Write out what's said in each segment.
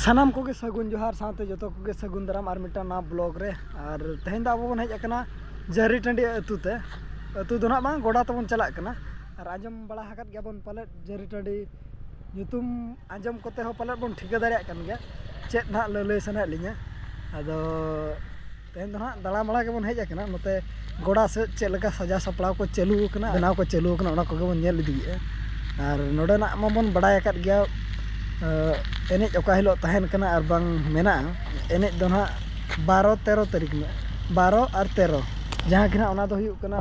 ᱥᱟᱱᱟᱢ ᱠᱚᱜᱮ ᱥᱟᱹᱜᱩᱱ ᱡᱚᱦᱟᱨ ᱥᱟᱶᱛᱮ ᱡᱚᱛᱚ ᱠᱚᱜᱮ ᱥᱟᱹᱜᱩᱱ ᱫᱟᱨᱟᱢ ᱟᱨ ᱢᱤᱫᱴᱟᱝ ᱱᱟᱣᱟ ᱵᱞᱚᱜ ᱨᱮ ᱟᱨ ᱛᱮᱦᱮᱧ ᱫᱚ ᱟᱵᱚ ᱵᱚᱱ ᱦᱮᱡ ᱟᱠᱟᱱᱟ ᱡᱟᱹᱨᱤ ᱴᱟᱺᱰᱤ ᱟᱹᱛᱩ ᱛᱮ ᱟᱹᱛᱩ ᱫᱚ ᱱᱟᱦᱟᱜ ᱵᱟᱝ ᱜᱚᱰᱟ ᱛᱮᱵᱚᱱ ᱪᱟᱞᱟᱜ ᱠᱟᱱᱟ ᱟᱨ ᱟᱸᱡᱚᱢ ᱵᱟᱲᱟ ᱟᱠᱟᱫ ᱜᱮᱭᱟᱵᱚᱱ ᱯᱟᱞᱮᱫ ᱡᱟᱹᱨᱤ ᱴᱟᱺᱰᱤ ᱧᱩᱛᱩᱢ ᱟᱸᱡᱚᱢ ᱠᱚᱛᱮ ᱦᱚᱸ ᱯᱟᱞᱮᱫ ᱵᱚᱱ ᱴᱷᱤᱠᱟᱹ ᱫᱟᱲᱮᱭᱟᱜ ᱠᱟᱱ ᱜᱮᱭᱟ ᱪᱮᱫ ᱱᱟᱦᱟᱜ ᱞᱟᱹᱞᱟᱹᱭ ᱥᱟᱱᱟᱭᱮᱫ ᱞᱤᱧᱟᱹ ᱟᱫᱚ ᱛᱮᱦᱮᱧ ᱫᱚ ᱦᱟᱸᱜ ᱫᱟᱬᱟ ᱵᱟᱲᱟ ᱜᱮᱵᱚᱱ ᱦᱮᱡ ᱟᱠᱟᱱᱟ ᱱᱚᱛᱮ ᱜᱚᱰᱟ ᱥᱮᱫ ᱪᱮᱫ ᱞᱮᱠᱟ ᱥᱟᱡᱟᱣ ᱥᱟᱯᱲᱟᱣ ᱠᱚ ᱪᱟᱹᱞᱩ ᱟᱠᱟᱱᱟ ᱵᱮᱱᱟᱣ ᱠᱚ ᱪᱟᱹᱞᱩ ᱟᱠᱟᱱᱟ ᱚᱱᱟ ᱠᱚᱜᱮ ᱵᱚᱱ ᱧᱮᱞ ᱤᱫᱤᱭᱮᱜᱼᱟ ᱟᱨ ᱱᱚᱰᱮᱱᱟᱜ ᱢᱟᱵᱚᱱ ᱵᱟᱲᱟᱭ ᱟᱠᱟᱫ ᱜᱮᱭᱟ ᱮᱱᱮᱡ ᱚᱠᱟ ᱦᱤᱞᱳᱜ ᱛᱟᱦᱮᱱ ᱠᱟᱱᱟ ᱟᱨ ᱵᱟᱝ ᱢᱮᱱᱟᱜᱼᱟ ᱮᱱᱮᱡ ᱫᱚ ᱦᱟᱸᱜ ᱵᱟᱨᱚ ᱛᱮᱨᱚ ᱛᱟᱹᱨᱤᱠᱷ ᱦᱤᱞᱳᱜ ᱵᱟᱨᱚ ᱟᱨ ᱛᱮᱨᱚ ᱡᱟᱦᱟᱸ ᱜᱮ ᱦᱟᱸᱜ ᱚᱱᱟ ᱫᱚ ᱦᱩᱭᱩᱜ ᱠᱟᱱᱟ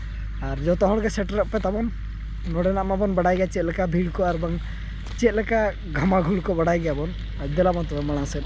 ᱟᱨ ᱡᱚᱛᱚ ᱦᱚᱲᱜᱮ ᱥᱮᱴᱮᱨᱚᱜ ᱯᱮ ᱛᱟᱵᱚᱱ ᱱᱚᱰᱮᱱᱟᱜ ᱢᱟᱵᱚᱱ ᱵᱟᱰᱟᱭ ᱜᱮᱭᱟ ᱪᱮᱫ ᱞᱮᱠᱟ ᱵᱷᱤᱲ ᱠᱚ ᱟᱨ ᱵᱟᱝ ᱪᱮᱫ ᱞᱮᱠᱟ ᱜᱷᱟᱢᱟ ᱜᱷᱩᱲ ᱠᱚ ᱵᱟᱰᱟᱭ ᱜᱮᱭᱟᱵᱚᱱ ᱟᱨ ᱫᱮᱞᱟ ᱵᱚᱱ ᱛᱚᱵᱮ ᱢᱟᱲᱟᱝ ᱥᱮᱫ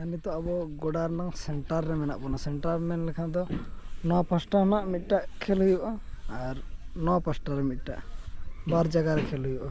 ᱟᱨ ᱱᱤᱛᱚᱜ ᱟᱵᱚ ᱜᱚᱰᱟ ᱨᱮᱱᱟᱝ ᱥᱮᱱᱴᱟᱨ ᱨᱮ ᱢᱮᱱᱟᱜ ᱵᱚᱱᱟ ᱥᱮᱱᱴᱟᱨ ᱢᱮᱱ ᱞᱮᱠᱷᱟᱱ ᱫᱚ ᱱᱚᱣᱟ ᱯᱟᱥᱴᱟ ᱨᱮᱱᱟᱜ ᱢᱤᱫᱴᱟᱝ ᱠᱷᱮᱞ ᱦᱩᱭᱩᱜᱼᱟ ᱟᱨ ᱱᱚᱣᱟ ᱯᱟᱥᱴᱟ ᱨᱮ ᱢᱤᱫᱴᱟᱝ ᱵᱟᱨ ᱡᱟᱭᱜᱟ ᱨᱮ ᱠᱷᱮᱞ ᱦᱩᱭᱩᱜᱼᱟ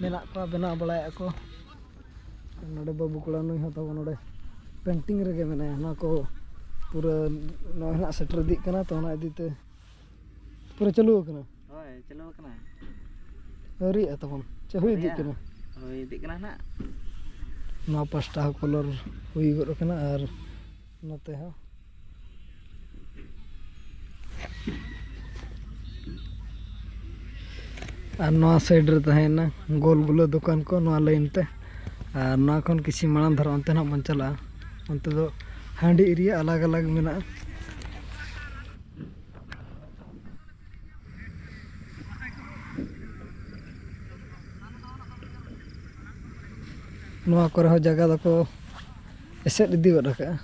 ᱢᱮᱱᱟᱜ ᱠᱚᱣᱟ ᱵᱮᱱᱟᱣ ᱵᱟᱲᱟᱭᱮᱫᱼᱟ ᱠᱚ ᱱᱚᱰᱮ ᱵᱟᱹᱵᱩ ᱠᱚᱲᱟ ᱱᱩᱭ ᱦᱚᱸ ᱛᱟᱵᱚᱱ ᱱᱚᱰᱮ ᱯᱮᱱᱴᱤᱝ ᱨᱮᱜᱮ ᱢᱮᱱᱟᱭᱟ ᱱᱚᱣᱟ ᱠᱚ ᱯᱩᱨᱟᱹ ᱱᱚᱜᱼᱚᱭ ᱦᱟᱸᱜ ᱥᱮᱴᱮᱨ ᱤᱫᱤᱜ ᱠᱟᱱᱟ ᱛᱚ ᱚᱱᱟ ᱤᱫᱤᱛᱮ ᱯᱩᱨᱟᱹ ᱪᱟᱹᱞᱩ ᱟᱠᱟᱱᱟ ᱦᱳᱭ ᱪᱟᱹᱞᱩ ᱟᱠᱟᱱᱟ ᱟᱹᱣᱨᱤᱭᱟᱜᱼᱟ ᱛᱟᱵᱚᱱ ᱪᱮ ᱦᱩᱭ ᱤᱫᱤᱜ ᱠᱟᱱᱟ ᱦᱩᱭ ᱤᱫᱤᱜ ᱠᱟᱱᱟ ᱱᱟᱜ ᱱᱚᱣᱟ ᱯᱟᱥᱴᱟ ᱦᱚᱸ ᱠᱚᱞᱚᱨ ᱦᱩᱭ ᱜᱚᱫ ᱟᱠᱟᱱᱟ ᱟᱨ ᱱᱚᱛᱮ ᱦᱚᱸ ᱟᱨ ᱱᱚᱣᱟ ᱥᱟᱭᱤᱰ ᱨᱮ ᱛᱟᱦᱮᱸᱭᱮᱱᱟ ᱜᱳᱞ ᱜᱩᱞᱟᱹ ᱫᱚᱠᱟᱱ ᱠᱚ ᱱᱚᱣᱟ ᱞᱟᱭᱤᱱ ᱛᱮ ᱟᱨ ᱱᱚᱣᱟ ᱠᱷᱚᱱ ᱠᱤᱪᱷᱩ ᱢᱟᱲᱟᱝ ᱫᱷᱟᱨᱟ ᱚᱱᱛᱮ ᱱᱟᱜ ᱵᱚᱱ ᱪᱟᱞᱟᱜᱼᱟ ᱚᱱᱛᱮ ᱫᱚ ᱦᱟᱺᱰᱤ ᱮᱨᱤᱭᱟ ᱟᱞᱟᱜᱽ ᱟᱞᱟᱜᱽ ᱢᱮᱱᱟᱜᱼᱟ ᱱᱚᱣᱟ ᱠᱚᱨᱮ ᱦᱚᱸ ᱡᱟᱭᱜᱟ ᱫᱚᱠᱚ ᱮᱥᱮᱫ ᱤᱫᱤ ᱜᱚᱫ ᱠᱟᱜᱼᱟ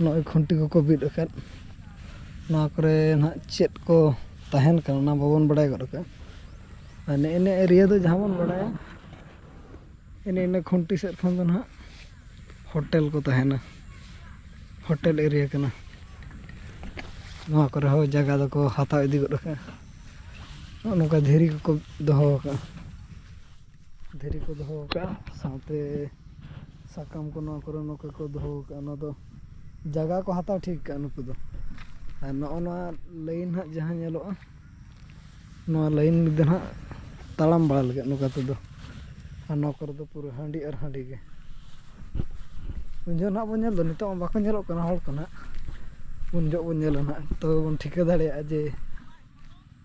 ᱱᱚᱜᱼᱚᱸᱭ ᱠᱷᱩᱱᱴᱤ ᱠᱚᱠᱚ ᱵᱤᱫ ᱟᱠᱟᱫ ᱱᱚᱣᱟ ᱠᱚᱨᱮ ᱦᱟᱸᱜ ᱪᱮᱫ ᱠᱚ ᱛᱟᱦᱮᱱ ᱠᱟᱱᱟ ᱚᱱᱟ ᱵᱟᱵᱚᱱ ᱵᱟᱲᱟᱭ ᱜᱚᱫ ᱠᱟᱜᱼᱟ ᱟᱨ ᱱᱮᱜᱼᱮ ᱱᱤᱭᱟᱹ ᱮᱨᱤᱭᱟ ᱫᱚ ᱡᱟᱦᱟᱸ ᱵᱚᱱ ᱵᱟᱲᱟᱭᱟ ᱮᱱᱮ ᱤᱱᱟᱹ ᱠᱷᱩᱱᱴᱤ ᱥᱮᱫ ᱠᱷᱚᱱ ᱫᱚ ᱦᱟᱸᱜ ᱦᱳᱴᱮᱞ ᱠᱚ ᱛᱟᱦᱮᱱᱟ ᱦᱳᱴᱮᱞ ᱮᱨᱤᱭᱟ ᱠᱟᱱᱟ ᱱᱚᱣᱟ ᱠᱚᱨᱮ ᱦᱚᱸ ᱡᱟᱭᱜᱟ ᱫᱚᱠᱚ ᱦᱟᱛᱟᱣ ᱤᱫᱤ ᱜᱚᱫ ᱠᱟᱜᱼᱟ ᱱᱚᱜᱼᱚᱸᱭ ᱱᱚᱝᱠᱟ ᱫᱷᱤᱨᱤ ᱠᱚᱠᱚ ᱫᱚᱦᱚ ᱠᱟᱜᱼᱟ ᱫᱷᱤᱨᱤ ᱠᱚ ᱫᱚᱦᱚ ᱟᱠᱟᱫᱼᱟ ᱥᱟᱶᱛᱮ ᱥᱟᱠᱟᱢ ᱠᱚ ᱱᱚᱣᱟ ᱠᱚᱨᱮ ᱱᱚᱝᱠᱟ ᱠᱚ ᱫᱚᱦᱚ ᱟᱠᱟᱫᱼᱟ ᱱᱚᱣᱟ ᱫᱚ ᱡᱟᱭᱜᱟ ᱠᱚ ᱦᱟᱛᱟᱣ ᱴᱷᱤᱠ ᱟᱠᱟᱫᱼᱟ ᱱᱩᱠᱩ ᱫᱚ ᱟᱨ ᱱᱚᱜᱼᱚ ᱱᱚᱣᱟ ᱞᱟᱹᱭᱤᱱ ᱦᱟᱸᱜ ᱡᱟᱦᱟᱸ ᱧᱮᱞᱚᱜᱼᱟ ᱱᱚᱣᱟ ᱞᱟᱹᱭᱤᱱ ᱫᱚ ᱦᱟᱸᱜ ᱛᱟᱲᱟᱢ ᱵᱟᱲᱟ ᱞᱟᱹᱜᱤᱫ ᱱᱚᱝᱠᱟ ᱛᱮᱫᱚ ᱟᱨ ᱱᱚᱣᱟ ᱠᱚᱨᱮ ᱫᱚ ᱯᱩᱨᱟᱹ ᱦᱟᱺᱰᱤ ᱟᱨ ᱦᱟᱺᱰᱤ ᱜᱮ ᱩᱱ ᱡᱚᱦᱚᱜ ᱱᱟᱦᱟᱜ ᱵᱚᱱ ᱧᱮᱞ ᱫᱚ ᱱᱤᱛᱚᱜ ᱢᱟ ᱵᱟᱠᱚ ᱧᱮᱞᱚᱜ ᱠᱟᱱᱟ ᱦᱚᱲ ᱠᱚ ᱱᱟᱦᱟᱜ ᱩᱱ ᱡᱚᱦᱚᱜ ᱵᱚᱱ ᱧᱮᱞᱟ ᱱᱟᱦᱟᱜ ᱛᱚᱵᱮ ᱵᱚᱱ ᱴᱷᱤᱠᱟᱹ ᱫᱟᱲᱮᱭᱟᱜᱼᱟ ᱡᱮ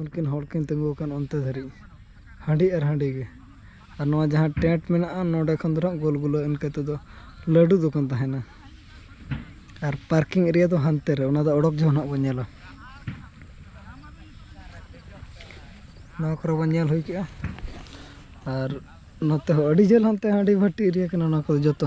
ᱩᱱᱠᱤᱱ ᱦᱚᱲ ᱠᱤᱱ ᱛᱤᱸᱜᱩ ᱟᱠᱟᱱ ᱚᱱᱛᱮ ᱫᱷᱟᱹᱨᱤᱡ ᱦᱟᱺᱰᱤ ᱟᱨ ᱦᱟᱺᱰᱤ ᱜᱮ ᱟᱨ ᱱᱚᱣᱟ ᱡᱟᱦᱟᱸ ᱴᱮᱸᱴ ᱢᱮᱱᱟᱜᱼᱟ ᱱᱚᱰᱮ ᱠᱷᱚᱱ ᱫᱚ ᱦᱟᱸᱜ ᱜᱳᱞ ᱜᱩᱞᱟᱹ ᱤᱱᱠᱟᱹ ᱛᱮᱫᱚ ᱞᱟᱹᱰᱩ ᱫᱚᱠᱟᱱ ᱛᱟᱦᱮᱱᱟ ᱟᱨ ᱯᱟᱨᱠᱤᱝ ᱮᱨᱤᱭᱟ ᱫᱚ ᱦᱟᱱᱛᱮ ᱨᱮ ᱚᱱᱟ ᱫᱚ ᱚᱰᱚᱠ ᱡᱚᱠᱷᱚᱱ ᱦᱟᱸᱜ ᱵᱚᱱ ᱧᱮᱞᱟ ᱱᱚᱣᱟ ᱠᱚᱨᱮ ᱵᱚᱱ ᱧᱮᱞ ᱦᱩᱭ ᱠᱮᱜᱼᱟ ᱟᱨ ᱱᱚᱛᱮ ᱦᱚᱸ ᱟᱹᱰᱤ ᱡᱷᱟᱹᱞ ᱦᱟᱱᱛᱮ ᱦᱟᱺᱰᱤ ᱵᱷᱟᱹᱴᱤ ᱮᱨᱤᱭᱟ ᱠᱟᱱᱟ ᱱᱚᱣᱟ ᱠᱚᱫᱚ ᱡᱚᱛᱚ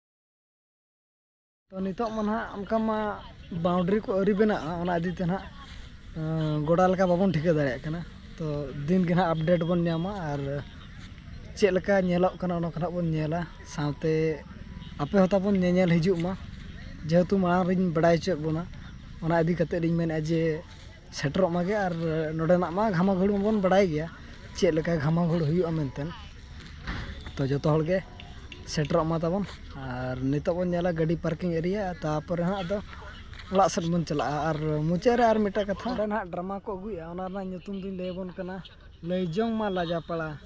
ᱛᱚ ᱱᱤᱛᱚᱜ ᱢᱟ ᱱᱟᱦᱟᱜ ᱚᱱᱠᱟ ᱢᱟ ᱵᱟᱣᱩᱱᱰᱨᱤ ᱠᱚ ᱟᱹᱣᱨᱤ ᱵᱮᱱᱟᱜᱼᱟ ᱚᱱᱟ ᱤᱫᱤ ᱛᱮ ᱱᱟᱦᱟᱜ ᱜᱚᱰᱟ ᱞᱮᱠᱟ ᱵᱟᱵᱚᱱ ᱴᱷᱤᱠᱟᱹ ᱫᱟᱲᱮᱭᱟᱜ ᱠᱟᱱᱟ ᱛᱚ ᱫᱤᱱ ᱜᱮ ᱱᱟᱦᱟᱜ ᱟᱯᱰᱮᱴ ᱵᱚᱱ ᱧᱟᱢᱟ ᱟᱨ ᱪᱮᱫ ᱞᱮᱠᱟ ᱧᱮᱞᱚᱜ ᱠᱟᱱᱟ ᱚᱱᱟ ᱠᱚ ᱱᱟᱦᱟᱜ ᱵᱚᱱ ᱧᱮᱞᱟ ᱥᱟᱶᱛᱮ ᱟᱯᱮ ᱦᱚᱸ ᱛᱟᱵᱚᱱ ᱧᱮᱧᱮᱞ ᱦᱤᱡᱩᱜ ᱢᱟ ᱡᱮᱦᱮᱛᱩ ᱢᱟᱲᱟᱝ ᱨᱤᱧ ᱵᱟᱲᱟᱭ ᱦᱚᱪᱚᱭᱮᱫ ᱵᱚᱱᱟ ᱚᱱᱟ ᱤᱫᱤ ᱠᱟᱛᱮᱫ ᱤᱧ ᱢᱮᱱᱮᱫᱼᱟ ᱡᱮ ᱥᱮᱴᱮᱨᱚᱜ ᱢᱟᱜᱮ ᱟᱨ ᱱᱚᱰᱮᱱᱟᱜ ᱢᱟ ᱜᱷᱟᱢᱟ ᱜᱷᱩᱲ ᱢᱟᱵᱚᱱ ᱵᱟᱲᱟᱭ ᱜᱮᱭᱟ ᱪᱮᱫ ᱞᱮᱠᱟ ᱜᱷᱟᱢᱟ ᱜᱷᱩᱲ ᱦᱩᱭᱩᱜᱼᱟ ᱢᱮᱱᱛᱮ ᱛᱚ ᱡᱚᱛᱚ ᱦᱚᱲ ᱜᱮ ᱥᱮᱴᱮᱨᱚᱜ ᱢᱟ ᱛᱟᱵᱚᱱ ᱟᱨ ᱱᱤᱛᱚᱜ ᱵᱚᱱ ᱧᱮᱞᱟ ᱜᱟᱹᱰᱤ ᱯᱟᱨᱠᱤᱝ ᱮᱨᱤᱭᱟ ᱛᱟᱨᱯᱚᱨᱮ ᱦᱟᱸᱜ ᱟᱫᱚ ᱚᱲᱟᱜ ᱥᱮᱫ ᱵᱚᱱ ᱪᱟᱞᱟᱜᱼᱟ ᱟᱨ ᱢᱩᱪᱟᱹᱫ ᱨᱮ ᱟᱨ ᱢᱤᱫᱴᱟᱝ ᱠᱟᱛᱷᱟ ᱚᱸᱰᱮ ᱦᱟᱸᱜ ᱰᱨᱟᱢᱟ ᱠᱚ ᱟᱹᱜᱩᱭᱮᱜᱼᱟ ᱚᱱᱟ ᱨᱮᱱᱟᱜ ᱧᱩᱛᱩᱢ ᱫᱚᱧ ᱞᱟᱹᱭ ᱟᱵᱚᱱ ᱠᱟᱱᱟ ᱞᱟᱹᱭ ᱡᱚᱝ ᱢᱟ ᱞᱟᱡᱟ ᱯᱟᱲᱟ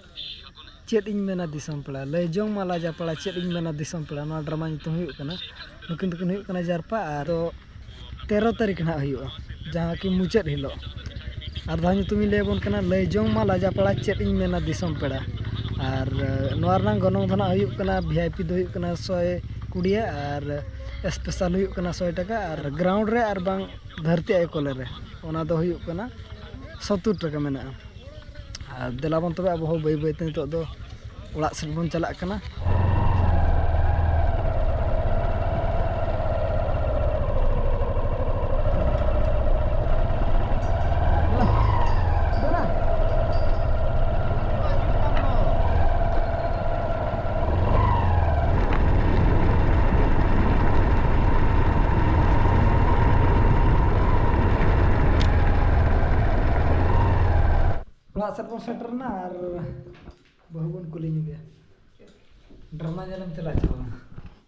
ᱪᱮᱫ ᱤᱧ ᱢᱮᱱᱟ ᱫᱤᱥᱚᱢ ᱯᱮᱲᱟ ᱞᱟᱹᱭ ᱡᱚᱝ ᱢᱟ ᱞᱟᱡᱟ ᱯᱟᱲᱟ ᱪᱮᱫ ᱤᱧ ᱢᱮᱱᱟ ᱫᱤᱥᱚᱢ ᱯᱮᱲᱟ ᱱᱚᱣᱟ ᱰᱨᱟᱢᱟ ᱧᱩᱛᱩᱢ ᱦᱩᱭᱩᱜ ᱠᱟᱱᱟ ᱱᱩᱠᱤᱱ ᱫᱚᱠᱤᱱ ᱦᱩᱭᱩᱜ ᱠᱟᱱᱟ ᱡᱟᱨᱯᱟ ᱟᱨ ᱛᱮᱨᱚ ᱛᱟᱹᱨᱤᱠᱷ ᱦᱟᱸᱜ ᱦᱩᱭᱩᱜᱼᱟ ᱡᱟᱦᱟᱸ ᱠᱤ ᱢᱩᱪᱟᱹᱫ ᱦᱤᱞᱳᱜ ᱟᱨ ᱫᱷᱟᱣ ᱧᱩᱛᱩᱢ ᱤᱧ ᱞᱟᱹᱭ ᱟᱵᱚᱱ ᱠᱟᱱᱟ ᱞᱟᱹᱭ ᱡᱚᱝ ᱢᱟ ᱞᱟᱡᱟ ᱯᱟᱲᱟ ᱪᱮᱫ ᱤᱧ ᱢᱮᱱᱟ ᱫᱤᱥᱚᱢ ᱯᱮᱲᱟ ᱟᱨ ᱱᱚᱣᱟ ᱨᱮᱱᱟᱜ ᱜᱚᱱᱚᱝ ᱫᱚ ᱦᱟᱸᱜ ᱦᱩᱭᱩᱜ ᱠᱟᱱᱟ ᱵᱷᱤ ᱟᱭ ᱯᱤ ᱫᱚ ᱦᱩᱭᱩᱜ ᱠᱟᱱᱟ ᱥᱚᱭ ᱠᱩᱲᱤ ᱟᱨ ᱥᱯᱮᱥᱟᱞ ᱦᱩᱭᱩᱜ ᱠᱟᱱᱟ ᱥᱚᱭ ᱴᱟᱠᱟ ᱟᱨ ᱜᱨᱟᱣᱩᱱᱰ ᱨᱮ ᱟᱨ ᱵᱟᱝ ᱫᱷᱟᱹᱨᱛᱤ ᱟᱭᱳ ᱠᱚᱞᱮ ᱨᱮ ᱚᱱᱟ ᱫᱚ ᱦᱩᱭᱩᱜ ᱠᱟᱱᱟ ᱥᱚᱛᱛᱳᱨ ᱴᱟᱠᱟ ᱢᱮᱱᱟᱜᱼᱟ ᱟᱨ ᱫᱮᱞᱟ ᱵᱚᱱ ᱛᱚᱵᱮ ᱟᱵᱚ ᱦᱚᱸ ᱵᱟᱹᱭ ᱵᱟᱹᱭ ᱛᱮ ᱱᱤᱛᱚᱜ ᱫᱚ ᱚᱲᱟᱜ ᱥᱮᱫ ᱵᱚᱱ ᱪᱟᱞᱟᱜ ᱠᱟᱱᱟ ᱚᱲᱟᱜ ᱥᱮᱫ ᱵᱚᱱ ᱥᱮᱴᱮᱨ ᱮᱱᱟ ᱟᱨ ᱵᱟᱹᱦᱩ ᱵᱚᱱ ᱠᱩᱞᱤ ᱧᱚᱜᱮᱭᱟ ᱰᱨᱟᱢᱟ ᱧᱮᱞᱮᱢ ᱪᱟᱞᱟᱜ ᱟᱥᱮ ᱵᱟᱝ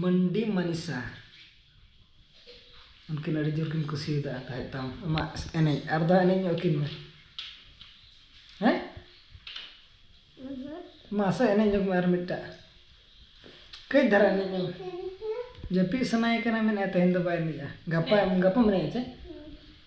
ᱢᱟᱱᱰᱤ ᱢᱟᱱᱤᱥᱟ ᱩᱱᱠᱤᱱ ᱟᱹᱰᱤ ᱡᱳᱨ ᱠᱤᱱ ᱠᱩᱥᱤᱭᱟᱫᱟ ᱛᱟᱦᱮᱸᱫ ᱛᱟᱢ ᱟᱢᱟᱜ ᱮᱱᱮᱡ ᱟᱨ ᱫᱚᱲᱦᱟ ᱮᱱᱮᱡ ᱧᱚᱜ ᱟᱹᱠᱤᱱ ᱢᱮ ᱦᱮᱸ ᱢᱟᱥᱮ ᱮᱱᱮᱡ ᱧᱚᱜᱽ ᱢᱮ ᱟᱨ ᱢᱤᱫᱴᱟᱜ ᱠᱟᱹᱡ ᱫᱷᱟᱨᱟ ᱮᱱᱮᱡ ᱧᱚᱜᱽ ᱢᱮ ᱡᱟᱹᱯᱤᱫ ᱥᱟᱱᱟᱭᱮ ᱠᱟᱱᱟ ᱢᱮᱱᱮᱫᱼᱟᱭ ᱛᱮᱦᱮᱧ ᱫᱚ ᱵᱟᱭ ᱮᱱᱮᱡᱼᱟ ᱜᱟᱯᱟ ᱜᱟᱯᱟᱢ ᱮᱱᱮᱡᱼᱟ ᱥᱮ